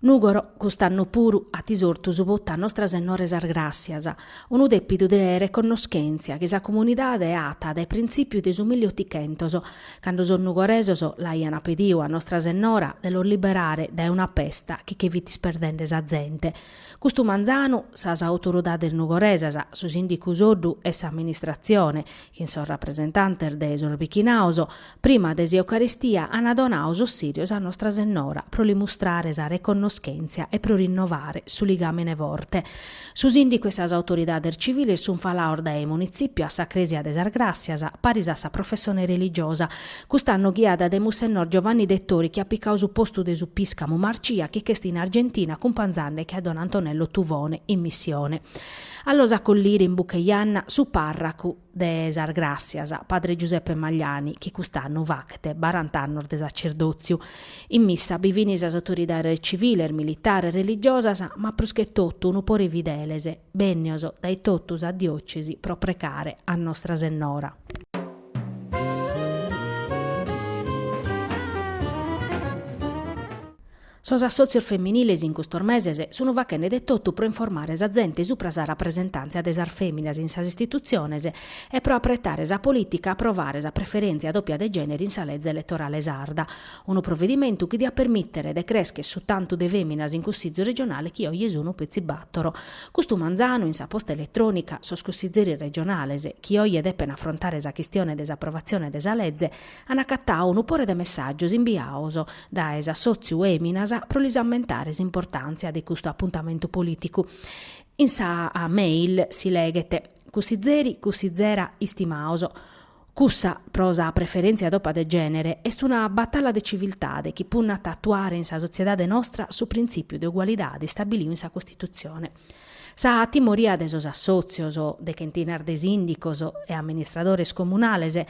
Nugoro, cust'annu puru, at isortu su potu a Nostra Sennora 'e sas Gràssias, unu dèpidu de reconnoschèntzia chi sa comunidade at dae printzìpiu de su milli otichentos, cando sos nugoresos l'aiant pediu a nostra sennora de los liberare dae una pesta chi che fit isperdende sa zente. Custu manzanu, sas autoridades nugoresas, su sìndicu Soddu e s'amministratzione, chin sos rapresentantes de sos bichinaos, prima de s'Eucaristia ant donau sos sirios a Nostra Sennora pro li mustrare sa reconnoschèntzia e pro rinnovare su ligàmene forte. Su sìndicu e sas autoridades civiles sunt falaos dae Munitzipiu a sa Crèsia de sas Gràssias, paris a sa professone religiosa. Cust'annu ghiada dae Mussennor Giovanni Dettori chi at picau su postu de su piscamu Marcia chi ch'est in Argentina cumpanzande·che a don Antonello Tuvone in missione. A los acollire in buca 'e janna su parracu de sas Gràssias, padre Giuseppe Magliani, chi cust'annu faghet barant'annos de sacerdòtziu. In missa bi fin sas autoridades civiles, militares, religiosas, ma prus che totu unu pore 'e fideles, bènnios dae totu sa diòcesi pro pregare a Nostra Sennora. Sos assòtzios feminiles in custos meses sun faghende de totu pro informare sa zente supra sa rapresentàntzia de sas fèminas in sas istitutziones e pro apretare sa polìtica a aprovare sa preferèntzia dòpia de gènere in sa leze eletorale sarda. Unu provedimentu chi diat permìtere de crèschere su tantu de fèminas in cussizu regionale chi oje sunu petzi bàtoro. Custu manzanu, in sa posta eletrònica, sos cussizeris regionales, chi oje depent afrontare sa chistione de s'aprovatzione de sa leze, ant acatau unu pore de messàgios imbiaos dae s'assòtziu Fèminas pro lis ammentare s'importàntzia de custu apuntamentu polìticu. In sa mail si leghet, Cussizeri, cussizera istimaos, Cussa, pro sa preferèntzia dòpia de gènere, est una batalla de civiltade chi punnat a atuare in sa sotziedade nostra su printzìpiu de ugualidade istabiliu in sa Costitutzione. Sa timoria de sos assòtzios, de chentinas de sìndicos e amministradores comunales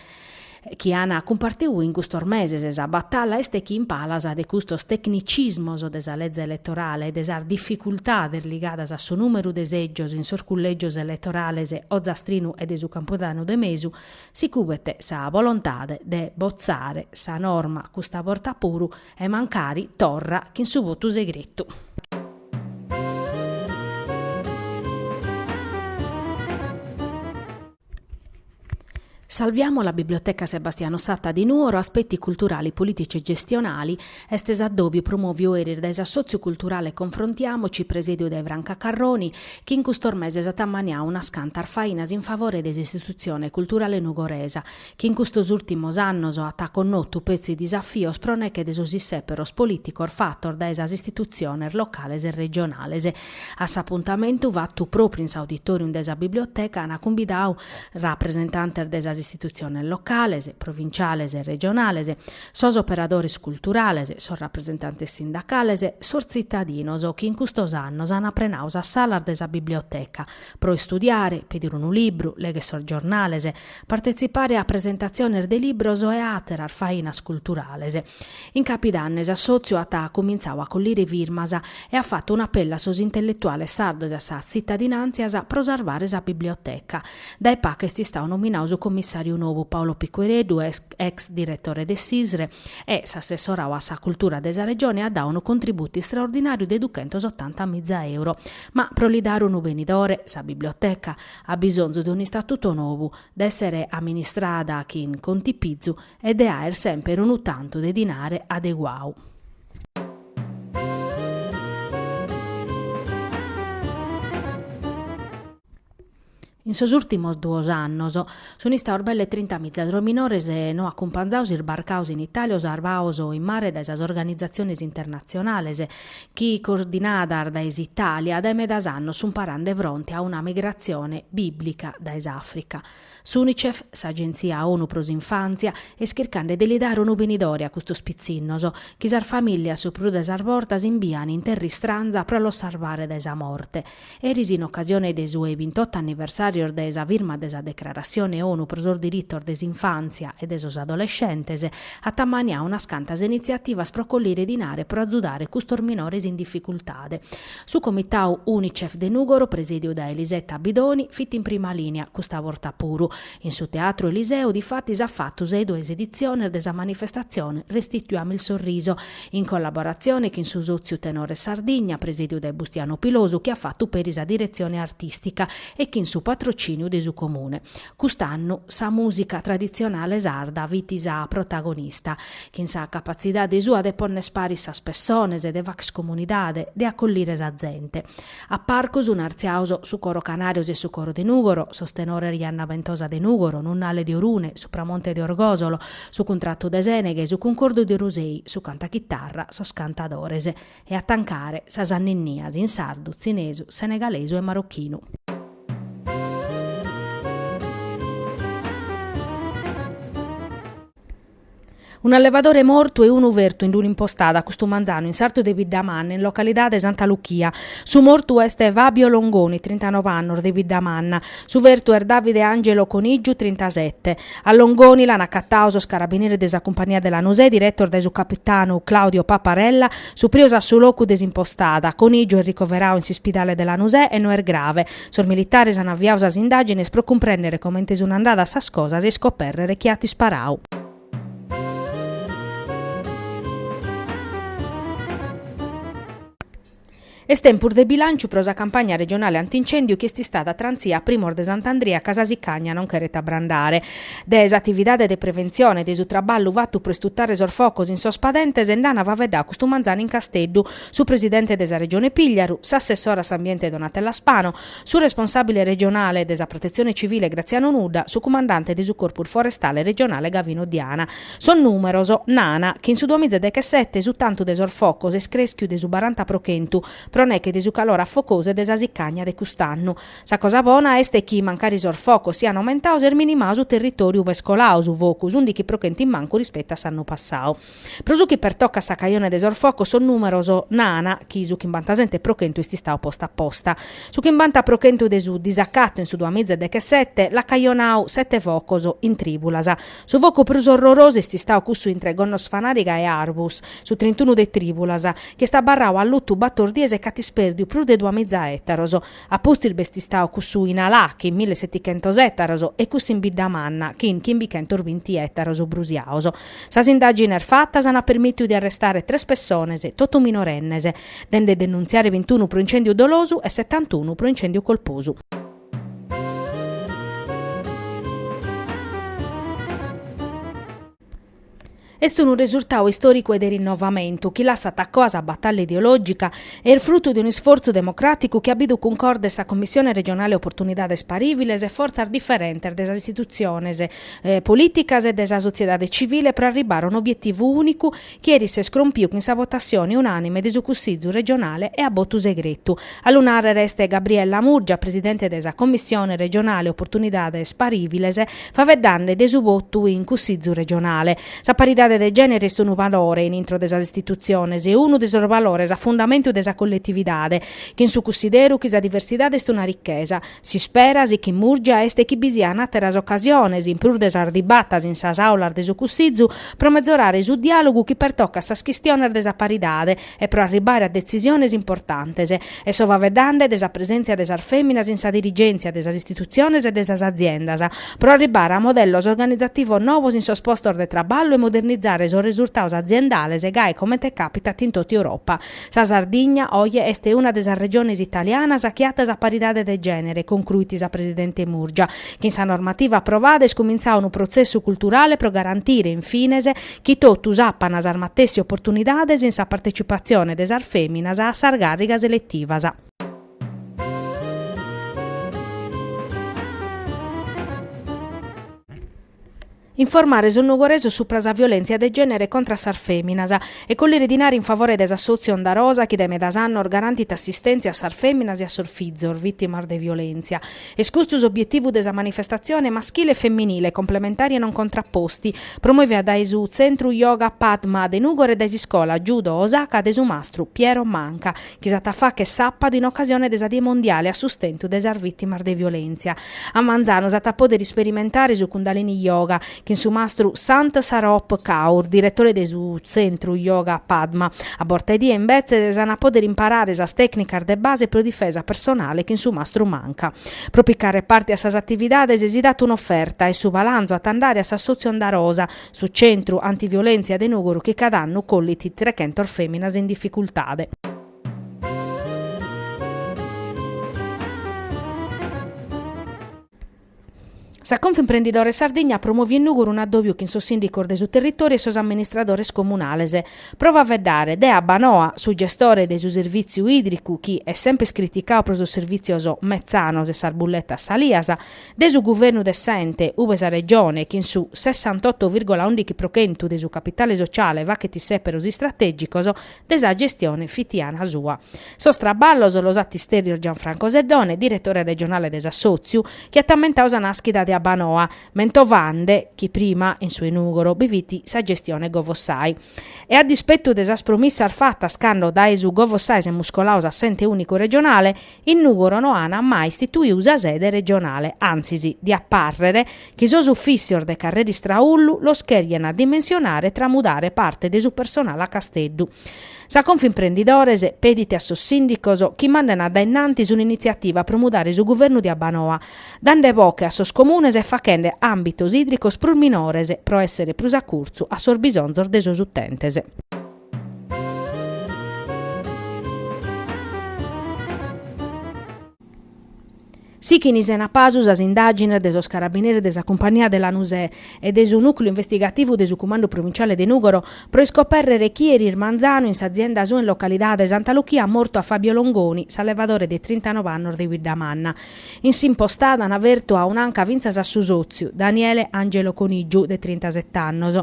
chi an cumpartiu in custos meses sa batalla est chi in palas de custos tecnicismos de sa leze eletorale e de sas dificultades ligadas a su nùmeru de sègios in sos cullègios eletorales ozastrinu e de su Campudanu de Mesu, si cubet sa volontade de botzare sa norma custa borta puru e mancari torra chin su votu segretu. Salviamo la Biblioteca Sebastiano Satta di Nuoro, aspetti culturali, politici e gestionali, est s'addòbiu promòviu eris dae s'assòtziu culturale Confrontiamoci, presèdiu dae Franca Carroni, chi in custos meses at ammaniadu unas cantas fainas in favore de s'Istitutzione Culturale Nugoresa, chi in custos ùrtimos annos at connotu petzi disafios pro neche de sos issèperos polìticos fatos dae sas istitutziones locales e regionales. A s'apuntamentu, fatu pròpriu in s'auditòrium de sa Biblioteca, ant cumbidau rapresentantes de sas istitutziones locales, provinciales e regionales, sos operadores culturales, sos rapresentantes sindacales, sos tzitadinos chi in custos annos ant prenadu sas salas de sa Biblioteca pro istudiare, pedire unu libru, legher sos giornales, partetzipare a presentatziones de libros e a àteras fainas culturales. In Capidanne s'assòtziu at cumintzadu a collire firmas e at fatu un'apellu a sos intelletuales sardos e a sas tzitadinàntzias pro sarvare sa biblioteca. Dae pagu est istadu nominadu su commissàriu nou Paolo Piquereddu, ex diretore de s'ISRE e s'assessoradu a sa cultura de sa Regione at dadu unu contributu istraordinàriu de duchentos otanta miza euro. Ma pro li dare unu benidore, sa biblioteca at bisonzu de un'istatutu nou, de èssere amministrada chin contipizu e de aer semper unu tantu de dinare adeguau. In sos ùrtimos duos annos sun istaos belle trinta miza sos minores no acumpanzados isbarcados in Itàlia o sarvados in mare dae sas organizatziones internatzionales chi, coordinadas dae s'Itàlia, dae medas annos sun parande fronte a una migratzione bìblica dae s'Àfrica. S'Unicef, s'Agentzia ONU pro s'Infàntzia, est chircande de li dare unu benidore a custos pitzinnos, chi sas famìllias su prus de sas bortas imbian in terra istranza pro los sarvare dae sa morte. Eris in ocasione de su 'e bintotto anniversàrios de sa firma de sa Declaratzione ONU pro sos diritos de s'infàntzia e de sos adolescentes, at ammaniadu unas cantas initziativas pro collire dinare pro azudare custos minores in dificultade. Su comitau Unicef de Nùgoro, presèdiu dae Lisetta Bidoni, fit in prima lìnia, custa borta puru. In su Teatru Eliseu, difatis, at fatu sa 'e duas editziones de sa manifestatzione Restituiamo il sorriso, in collaboratzione chin su Sòtziu Tenores Sardigna, presèdiu dae Bustianu Pilosu, chi at fatu peri sa diretzione artìstica, e chin su patrocìniu de su Comune. Cust'annu sa mùsica traditzionale sarda fit sa protagonista, chin sa capatzidade sua de ponner paris sas pessones e de facher comunidade, de acollire sa zente. A parcu sun artziados su Coro Canarjos e su Coro de Nùgoro, sos tenores Janna Bentosa de Nùgoro, Nunnale de Orune, Supramonte de Orgòsolo, su Cuntratu de Sèneghe, su Cuncordu de Orosei, su cantu a chitarra, sos Cantadores. E a tancare sas anninnias in sardu, tzinesu, senegalesu e marochinu. Un'allevadore mortu e unu fertu in un'impostada custu manzanu in sartu de Biddamanna in localidade Santa Luchia. Su mortu est Fabio Longoni, trintanove annos, de Biddamanna. Su fertu est Davide Angelo Conìgiu, trintasete. A Longoni l'an acatadu sos carabineris de sa cumpania de Lanusè diretos dae su capitanu Claudio Paparella, suprios a su locu de s'impostada. Conìgiu est ricoveradu in s'ispidale de Lanusè e no est grave. Sos militaris an aviadu sas indàgines pro cumprèndere comente sunt andadas sas cosas e iscopèrrere chie at isparadu. Est tempus de bilànciu pro sa campagna regionale antincèndiu chi est istada trantzia a primos de Sant'Andria ca sa sicagna non cheret abrandare. De s'atividade de preventzione e de su traballu fatu pro istutare sos focos in sos padentes nd'an faveddadu custu manzanu in Casteddu su presidente de sa Regione Pìgliaru, s'assessora a s'Ambiente Donatella Spano, su responsàbile regionale de sa Protetzione Civile Graziano Nudda, su cumandante de su Corpus Forestale regionale Gavino Diana. Sos nùmeros nana chi in su duamiza e dechesete su tantu de sos focos est crèschiu de su baranta pro chentu, pro neche de su calore afocosu e de sa sicànnia de cust'annu. Sa cosa bona est chi, mancari sos focos sian aumentados, est minimadu su territòriu ube est coladu su focu, s'ùndichi pro chentu in mancu rispettu a s'annu passadu. Pro su chi pertocat sa cajone de sos focos sos nùmeros nana chi su chimbantasete pro chentu est istadu postu a posta. Su chimbanta pro chentu de su disacatu in su duamiza e dechesete l'at cajonadu sete focos in trìbulas. Su focu prus orrorosu est istadu cussu intre Gonnosfanàdiga e Arbus, su trintunu de trìbulas, chi est abarradu allutu bator dies e ch'at ispèrdiu prus de duamiza ètaros. A pustis b'est istau cussu in Alà chin mille setichentos ettaros e cussu in Biddamanna chin chimbichentos binti ettaros brusiaos. Sas indàgines fatas ana permìtiu de arrestare tres pessones, totu minorennes, de nde denuntziare bintunu pro incèndiu dolosu e setantunu pro incèndiu colposu. Est unu resurtau istòricu e de rinnovamentu, chi lassat a coa sa batalla ideològica e est frutu de unu isfortzu democràticu chi at bidu cuncordes sa Commissione regionale Oportunidades Parìviles e fortzas diferentes de sas istitutziones polìticas e de sa sotziedade tzivile pro arribare a un'obietivu ùnicu Chi eris s'est crompiu chin sa votatzione unànime de su Cussizu regionale e a botu segretu. A lu nàrrere est Gabriella Murgia, presidente de sa Commissione regionale Opportunidades Pariviles, faveddande de su votu in Cussizu regionale. Sa paridade de gènere est unu valore in intro de sas istitutziones e unu de sos valores a fundamentu de sa colletividade. Chin su cussideru chi sa diversidade est una richesa. S'ispera, sichit Murgia, est chi bi sian àteras ocasiones, in prus de sas dibatas in sas àulas de su Cussizu, pro mezorare su diàlogu chi pertocat sas chistiones de sa paridade e pro arribbare a detzisiones importantes. E so faeddende de sa presèntzia de sas fèminas in sa dirigèntzia de sas istitutziones e de sas aziendas, pro arribbare a modellos organizativos novos in sos postos de traballu e modernizare sos resurtados aziendales gai comente càpitat in totu Europa. Sa Sardigna, oje, est una de sas regiones italianas chi at sa paridade de gènere, concruit sa presidente Murgia. Chin sa normativa aprovada est cumintzadu unu protzessu culturale pro garantire, in fines, chi totus apant sas matessi oportunidades in sa partecipatzione de sas fèminas a sas càrrigas eletivas. informare sos nugoresos supra sa violèntzia de gènere contra a sas fèminas e collire dinari in favore de s'assòtziu Onda Rosa chi dae medas annos garantit assistèntzia a sas fèminas e a sos fizos vìtimas de violèntzia. Est custu s'obietivu de sa manifestatzione Maschile e Femminile, complementari e non contrapposti, promovida dae su Tzentru Yoga Padma de Nùgoro e dae s'iscola Judo Osaka de su mastru Piero Manca, chi s'at a fàgher sàpadu in ocasione de sa Die Mondiale a sustentu de sas vìtimas de violèntzia. A manzanu s'at a pòdere isperimentare su Kundalini Yoga chin su mastru Sant Saroop Kaur, diretore de su Tzentru Yoga Padma. A borta 'e die imbetzes s'an a pòdere imparare sas tècnicas de base pro difesa personale chin su mastru Manca. Pro picare parte a sas atividades si dat un'oferta e su balanzu at a andare a s'assòtziu Onda Rosa, Su Centru Antiviolèntzia de Nùgoro chi cada annu collit trechentos fèminas in dificultade. Sa Confimprendidores Sardigna at promoviu in Nùgoro un'addòbiu chin sos sìndicos de su territòriu e sos amministradores comunales pro faeddare de Abbanoa su gestore de su servìtziu ìdricu chi est semper criticadu pro sos servìtzios metzanos e sas bulletas salias de su guvernu de s'ente, ube sa Regione, chin su sessantotto virgola undichi pro chentu de su capitale sociale faghet issèperos istratègicos de sa gestione fitiana sua. Sos traballos los at istèrrios Gianfranco Seddone, diretore regionale de s'assòtziu, chi at ammentadu sa nàschida de Abbanoa, mentovande chi prima, in su 'e Nùgoro, bi fit sa gestione Govossai. E a dispetu de sas promissas fatas cando dae su Govossai semus colaos a s'ente ùnicu regionale, In Nùgoro no ant mai istituiu sa sede regionale, antzis, diat pàrrere chi sos ufìssios de carrera Istraullu los cherian dimensionare e tramudare parte de su personale a Casteddu. Sa Confimprendidores pedit a sos sìndicos chi mandan a dae innantis un'initziativa pro mudare su guvernu de Abbanoa, dande boche a sos comunes e fachende àmbitos ìdricos prus minores pro èssere prus a curtzu a sos bisonzos de sos utentes. Sichin sena pasu sas indàgines de sos carabineris de sa cumpania de Lanusè e de su nùcleu investigativu de su Cumandu Provinciale de Nùgoro pro iscopèrrere chie eris manzanu in s'azienda sua in localidade Santa Luchia at mortu a Fabio Longoni, s'allevadore de trintanov'annos de Biddamanna, In s'impostada an fertu a un'anca fintzas a su sòtziu, Daniele Angelo Conìgiu, de trintaset annos.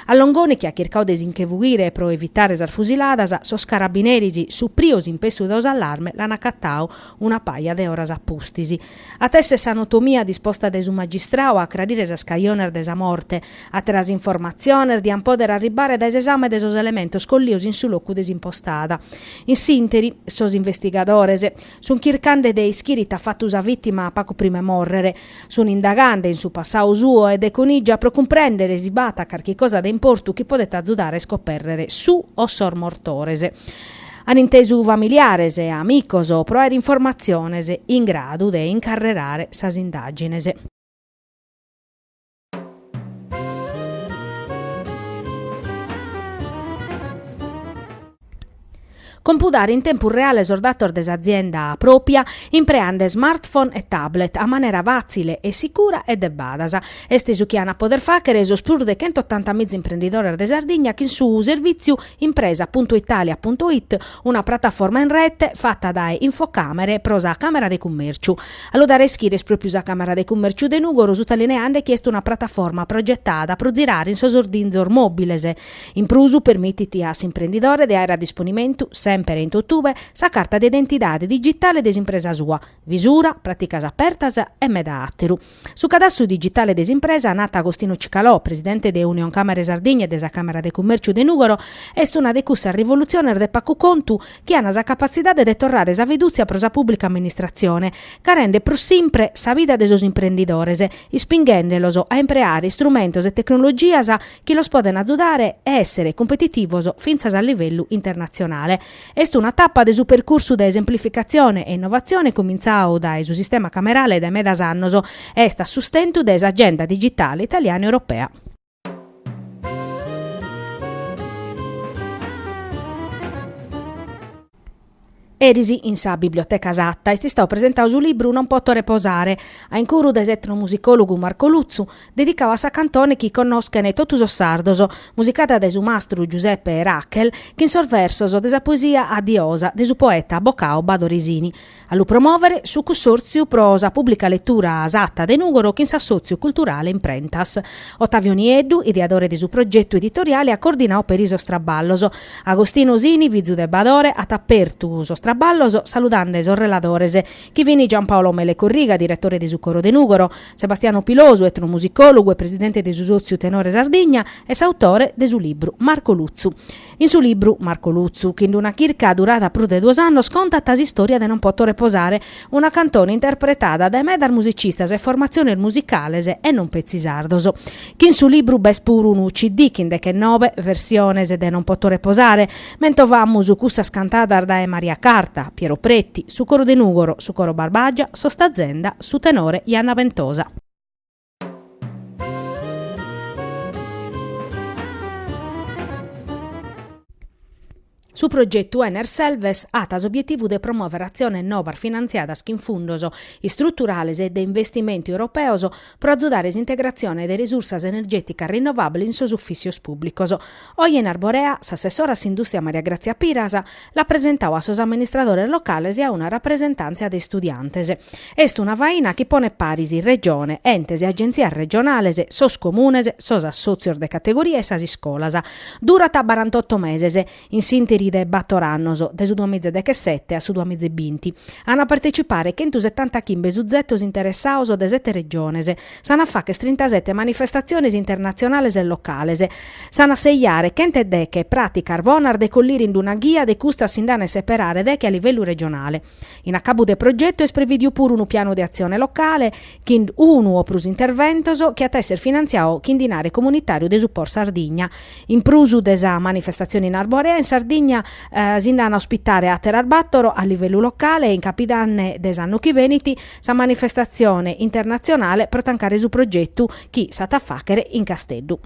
A Longoni chi at chircadu de si nche fughire pro evitare sas fusiladas, sos carabineris, suprios impessu dau s'allarme, l'an acatadu una paja de oras a pustis. At èssere s'anotomia disposta dae su magistradu a acrarire sas cajones de sa morte. Àteras informatziones diant pòdere arribare dae s'esame de sos elementos collidos in su locu de s'impostada. In s'ìnteri, sos investigadores. Sun chircande de ischire it'at fatu sa vìtima pagu prima 'e mòrrere. Sun indagande in su passau suo e de Conìgia pro cumprèndere si b'at carchi cosa de importu chi podet azudare a iscopèrrere su o sos mortores. An intesu familiares e amicos pro àere informatziones in gradu de incarrerare sas indàgines. Compudare in tempus reale sos datos de s'azienda pròpia impreande smartphone e tablet a manera fàtzile e sicura e de badas. Est su chi ant a poder fàghere sos prus de chentotanta miza imprendidores de Sardigna chin su servìtziu impresa puntu italia puntu it, una prataforma in rete fata dae Infocamere pro sa Càmera de Cummèrciu. A lu dare a ischire est pròpiu sa Càmera de Cumèrciu de Nùgoro, sutalineande chi est una prataforma progetada pro zirare in sos ordinzos mòbiles. In prus, permitit a s'imprendidore de àere a disponimentu, semper e in totube, sa carta de identidade digitale de s'impresa sua, Visura, Pràticas Apertas e meda àteru. Su cadastru digitale de s'impresa, nat Agostino Cicalò, presidente de Unioncamere Sardigna e de sa Càmera de Cumèrciu de Nùgoro, est una de cussas rivolutziones de pagu contu chi an sa capatzidade de torrare sa fidùtzia pro sa pùblica amministratzione, ca rendet prus simpre sa vida de sos imprendidores, ispinghende-los a impreare istrumentos e tecnologias chi los podent azudare a èssere cumpetitivos fintzas a livellu internatzionale. Est una tapa de su percursu de esemplificatzione e innovatzione cumintzadu dae su sistema camerale dae medas annos e est a sustentu de s'agenda digitale italiana e europea. Eris in sa Biblioteca Satta est istadu presentadu su libru Non poto reposare, a incuru de s'etnomusicòlogu Marco Lutzu, dedicadu a sa cantone chi connoschent totu sos sardos, musicada dae su mastru Giuseppe Rachel, chin sos versos de sa poesia A Diosa de su poeta abocau Badore Sini. A lu promòvere su Cussòrtziu pro sa pùblica letura Sata de Nùgoro chin s'assòtziu culturale Imprentas. Ottavio Nieddu, ideadore de su progetu editoriale at coordinau peri sos traballos. Agostinu Sini, fizu de Badore, at apertu sos traballos saludande sos reladores, chi fin Giampaolo Mele Corriga, diretore de su Coro de Nùgoro, Sebastiano Pilosu, etnomusicòlogu e presidente de su Sòtziu Tenore Sardigna e s'autore de su libru, Marco Lutzu. In su libru Marco Lutzu, chi in d-una chirca durada prus de duos annos contat s'istòria de Non poto reposare, una cantone interpretada dae medas musicistas e formatziones musicales e non petzi sardos. Chi in su libru b'est puru unu CD chin dechenobe versiones de Non poto reposare, mentovamus cussas cantadas dae Maria Carta, Piero Pretti, su Coro de Nùgoro, su Coro Barbàgia, sos Tazenda, su tenore Janna Bentosa. Su progetu Ener Selves at s'obietivu de promuòvere atziones nobas finantziadas chin fundos istruturales e de investimentu europeos pro azudare s'integratzione de resursas energèticas rinovàbiles in sos ufìtzios pùblicos. Oje in Arborea, s'assessora a s'indùstria Maria Gràtzia Piras l'at presentau a sos amministradores locales e a una rapresentàntzia de istudiantes. Est una faina chi ponet paris Regione, entes e agentzias regionales, sos comunes, sos assòtzios de categoria e sas iscolas. Durat barantotto meses, in s'ìnteri de bator annos, dae su duamiza e dechesete a su duamiza e binti, ant a partecipare chentusetantachimbe suzetos interessaos de sete Regiones, S'an a facher trintasete manifestatziones internatzionales e locales. S'an a sejare chentu e deche pràticas bonas de collire in d-una ghia de custas si nd'an a seperare deche a livellu regionale. In acabu de progetu est prevìdiu puru unu pianu de atzione locale chin unu o prus interventos chi at a èssere finantziau chin dinare comunitàriu de su POR Sardigna. In prus de sa manifestatzione in Arborea, in Sardigna si nd'an a ospitare àteras bàtoro a livellu locale e in capidanne de s'annu chi benit sa manifestatzione internatzionale pro tancare su progetu chi s'at a fàchere in Casteddu.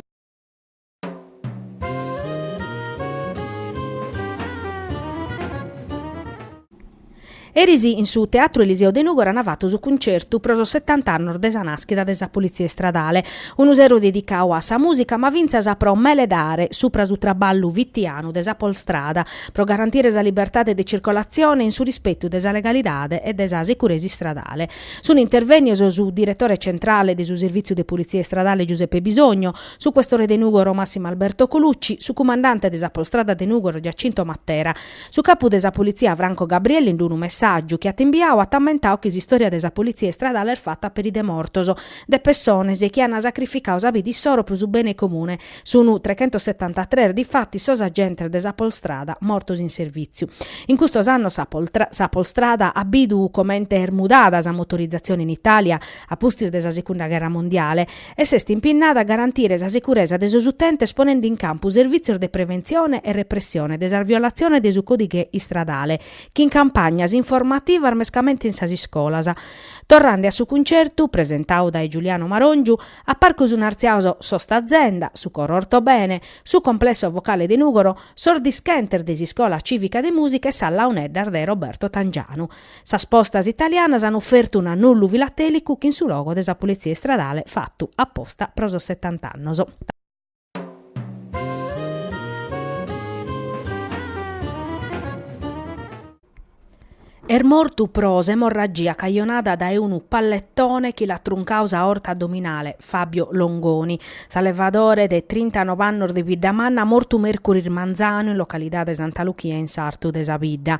Eris in su Teatru Eliseo de Nùgoro ant fatu su cuncertu pro sos setant'annos de sa nàschida de sa Politzia Istradale, unu sero dedicau a sa mùsica ma fintzas pro meledare supra su traballu fitianu de sa Polstrada pro garantire sa libertade de circolatzione in su rispetu de sa legalidade e de sa securesa istradale. Sunt intervènnios su diretore centrale de su Servìtziu de Politzia Istradale Giuseppe Bisogno, su questore de Nùgoro Massimo Alberto Colucci, su cumandante de sa Polstrada de Nùgoro Giacinto Mattera. Su capu de sa Politzia Franco Gabrielli in d-unu messàgiu chi at imbiau at ammentau chi s'istòria de sa Politzia Istradale est fata peri de mortos, de pessones chi an sacrificau sa bida issoro pro su bene comune Sunu trechentosetantatres difatis sos agentes de sa Polstrada mortos in servìtziu. In custos annos sa Polstrada at bidu comente est mudada sa motorizatzione in Itàlia a pustis de sa Segunda Gherra Mondiale e s'est impinnada a garantire sa seguresa de sos utentes ponende in campu servìtzios de preventzione e repressione de sas violatziones de su còdighe istradale chin campagnas informativas mescamente in sas iscolas. Torrande a su cuncertu, presentadu dae Giuliano Maròngiu, A parcu sun artziaos sos Tazenda, su Coro Ortobene, su Complesso Vocale de Nùgoro, sos dischentes de s'Iscola Cìvica de Mùsica e sas Launeddas de Roberto Tangianu. Sas postas italianas an ofertu un'annullu filatèlicu chin su logo de sa Politzia Istradale fatu aposta pro sos setant'annos. Est mortu pro s'emorragia cajonada dae unu pallettone chi l'at truncadu s'aorta addominale Fabio Longoni, s'allevadore de trintanove annos de Biddamanna, mortu mèrcuris manzanu in localidade Santa Luchia in sartu de sa bidda.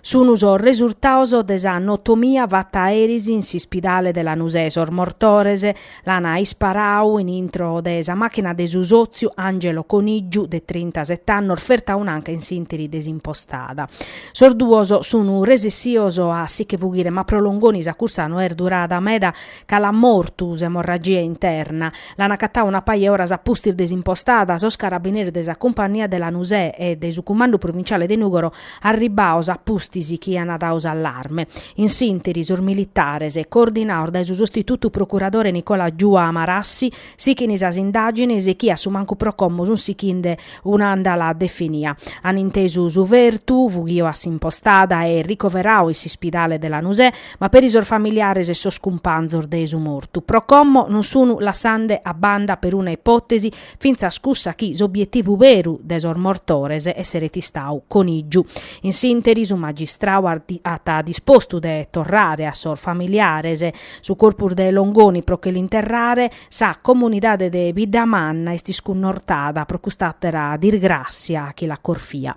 Sunt sos resurtados de sa notomia fata eris in s'ispidale de Lanusè. Sos mortores L'an isparadu in intro de sa màchina de su sòtziu Angelo Conìgiu, de trintaset annos, fertu a un'anca in s'ìnteri de s'impostada. Sos duos sun resessios a si che fughire ma pro Longoni sa cursa no est durada meda ca l'at mortu s'emorragia interna. L'an agatadu una paja 'e oras a pustis de s'impostada sos carabineris de sa Cumpannia de Lanusè e de su Cumandu Provinciale de Nùgoro Arribbados a pustis chi aian dadu s'allarme, in s'interi sos militares, coordinados dae su sostitutu procuradore Nicola Giua Marassi, sighint sas indàgines chi a su mancu pro como sun sighinde un'àndala definia. An intesu su fertu, fughio a s'impostada e ricoveradu in s'ispidale de Lanusè, ma peri sos familiares e sos cumpanzos de su mortu, pro como non sun lassande a banda peruna ipòtesi fintzas cussa chi s'obietivu beru de sos mortores esseret istadu Conìgiu. In s'ìnteri su magistradu at dispostu de torrare a sos familiares su corpus de Longoni pro che l'interrare, sa comunidade de Biddamanna est iscunnortada pro cust'àtera dirgràssia chi l'at corfia.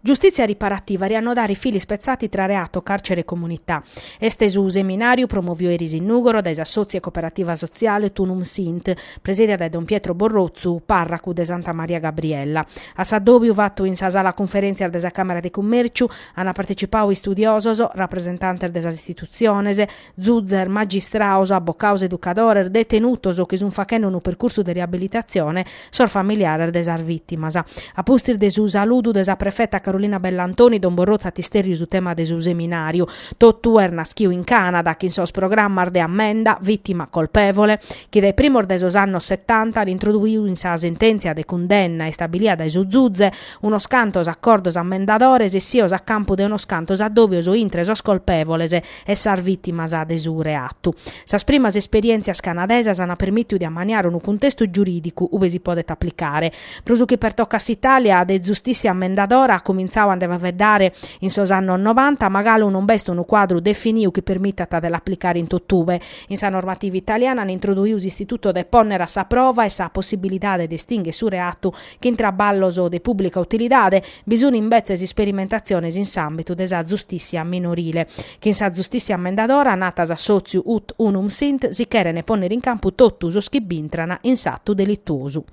Giustizia Riparativa riannodare i fili spezzati tra reato, carcere e comunità. Est su seminàriu promoviu eris in Nùgoro dae s'assòtziu e coperativa sotziale Ut Unum Sint, presìdia dae don Pietro Borrotzu, pàrracu de Santa Maria Gabriella. A s'addòbiu fatu in sa sala cunferèntzias de sa Càmera de Cummèrciu ant partecipadu istudiosos, rapresentantes de sas istitutziones, Zuzes, magistraos, abocaos, educadores, detenutos chi sun faghende unu percursu de riabilitatzione, sos familiares de sas vìtimas. A pustis de su saludu de sa prefeta Carolina Bellantoni, don Borrotzu at istèrriu su tema de su seminàriu Totu est naschiu in Cànada, chin sos programmas de ammenda, vìtima, colpevole, chi dae sos primos de sos annos setanta an introduiu in sa sentèntzia de cundenna istabilia dae su Zuze unos cantos acordos ammendadores essios a campu de unos cantos addòbios intre sos colpevoles e sas vìtimas de su reatu. Sas primas esperièntzias canadesas ant permìtiu de ammaniare unu cuntestu giurìdicu ube si podet aplicare. Pro su chi pertocat s'Itàlia, de zustìssia ammendadora an comintzau a nde faeddare in sos annos novanta, ma galu non b'est unu cuadru definiu chi permitat de l'aplicare in totube. In sa normativa italiana an introduiu s'istituto de pònnere a sa prova e sa possibilidade de estinghere su reatu Chin traballos de pùblica utilidade, bi sun imbetzes isperimentatziones in s'àmbitu de sa zustìssia minorile. Chin sa zustìssia ammendadora, natat s'assòtziu ut unum sint, si cheren pònnere in campu totu sos chi bintran in s'atu delituosu.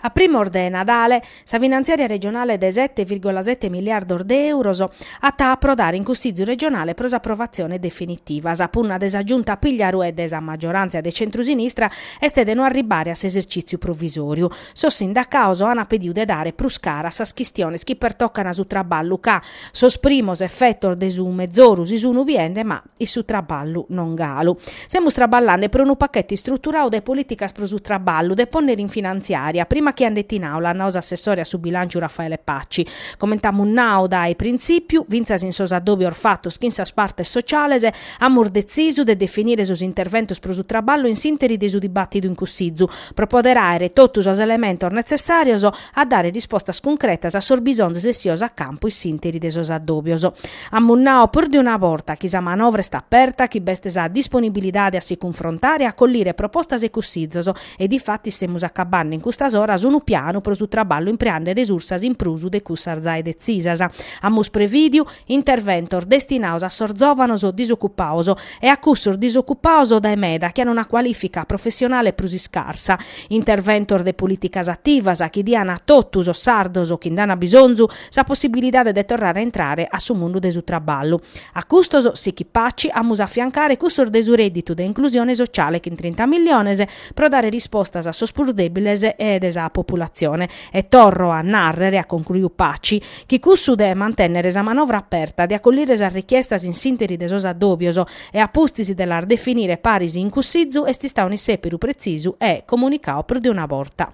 A primos de Nadale, sa finantziària regionale de sete virgola sete miliardos de èuros at a aprodare in Cussìtziu regionale pro s'aprovatzione definitiva. Sa punna de sa Giunta Pigliaru e de sa maggioràntzia de centrusinistra est de no arribbare a s'esercìtziu provisòriu. Sos sindacaos an pediu de dare prus cara a sas chistiones chi pertocan su traballu ca, sos primos efetos de su mezoru si sunu biende ma, in su traballu non galu. Semus traballande pro unu pachete istruturau de polìticas pro su traballu de pònnere in finantziària, prima chi andet in àula, at nau s'assessore a su bilànciu Raffaele Paci. Coment'amus nau dae printzìpiu, fintzas in sos addòbios fatos chin sas partes sotziales, amus detzisu de definire sos interventos pro su traballu in s'interi de su dibàtidu in Cussizu, pro poder àere totu sos elementos netzessàrios, a dare rispostas cuncretas a sos bisonzos essios a campu in s'interi de sos addòbios. Amus nau prus de una borta chi sa manovra est aperta, chi b'est sa disponibilidade a si cunfrontare e a collire propostas e cussizos e difatis semus acabande in custas oras unu pianu pro su traballu impreande resursas in prus de cussas zae detzisas. Amus prevìdiu. Interventos destinaos a sos zòvanos disocupaos e a cussos disocupaos dae meda chi an una cualìfica professionale prus iscarsa. Interventos de polìticas ativas chi dian a totu sos sardos chi nd'an bisonzu sa possibilidade de torrare a intrare a su mundu de su traballu. A custos, sichit Paci, amus a afiancare cussos de su rèdditu de inclusione sociale chin trinta miliones pro dare rispostas a sos prus dèbiles de sa populatzione E torro a nàrrere, at concluiu Paci, chi cussu de mantènnere sa manovra aperta, de acollire sas richiestas in s'ìnteri de sos addòbios e a pustis de las definire paris in Cussizu est istau un'issèperu pretzisu e comunicau prus de una borta.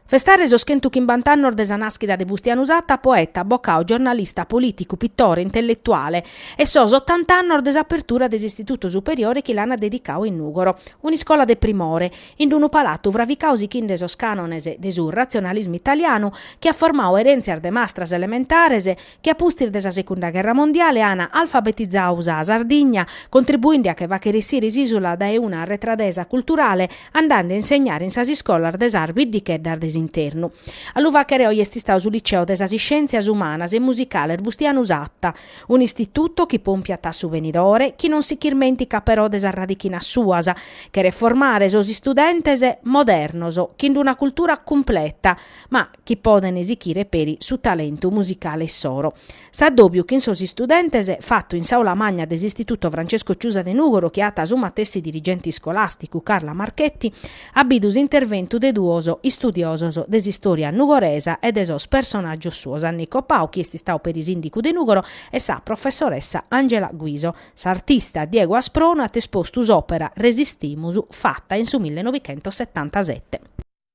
Festare sos chentu chimbant'annos de sa nàschida de Bustianu Satta, poeta, abocau, giornalista, polìticu, pitore, intelletuale, e sos otant'annos de s'apertura de s'Istitutu Superiore chi l'ant dedicau in Nùgoro, un'iscola de primore, in unu palatu fravicau sichinde sos cànones de su ratzionalismu italianu chi at formau erèntzias de mastras elementares chi a pustis de sa Secunda Gherra Mondiale an alfabetizau sa Sardigna, contribuinde a che fàchere essire s'ìsula dae una arretradesa culturale, andande a insegnare in sas iscolas de sas biddicheddas de s'internu. A lu fàchere oi est istau su Liceo de sas Iscièntzias Umanas e Musicales Bustianu Satta, un'istituto chi pompiat a su benidore, chi non si ch'irmènticat però de sas radichinas suas, cheret formare sos istudentes modernos, chin d'una cultura cumpleta, ma, chi podent sichire peri su talentu musicale issoro. S'addòbiu chin sos istudentes fatu in s'aula magna de s'Istituto Francesco Ciusa de Nùgoro chi at su matessi dirigente iscolàsticu Carla Marchetti at bidu s'interventu de duos istudiosos de s'istòria nugoresa e de sos personàgios suos Annico Pau chi est istau peri sìndicu de Nùgoro e sa professoressa Angela Guiso. S'artista Diego Asproni at espostu s'òpera Resistimus fata in su millenovichentossetantasete.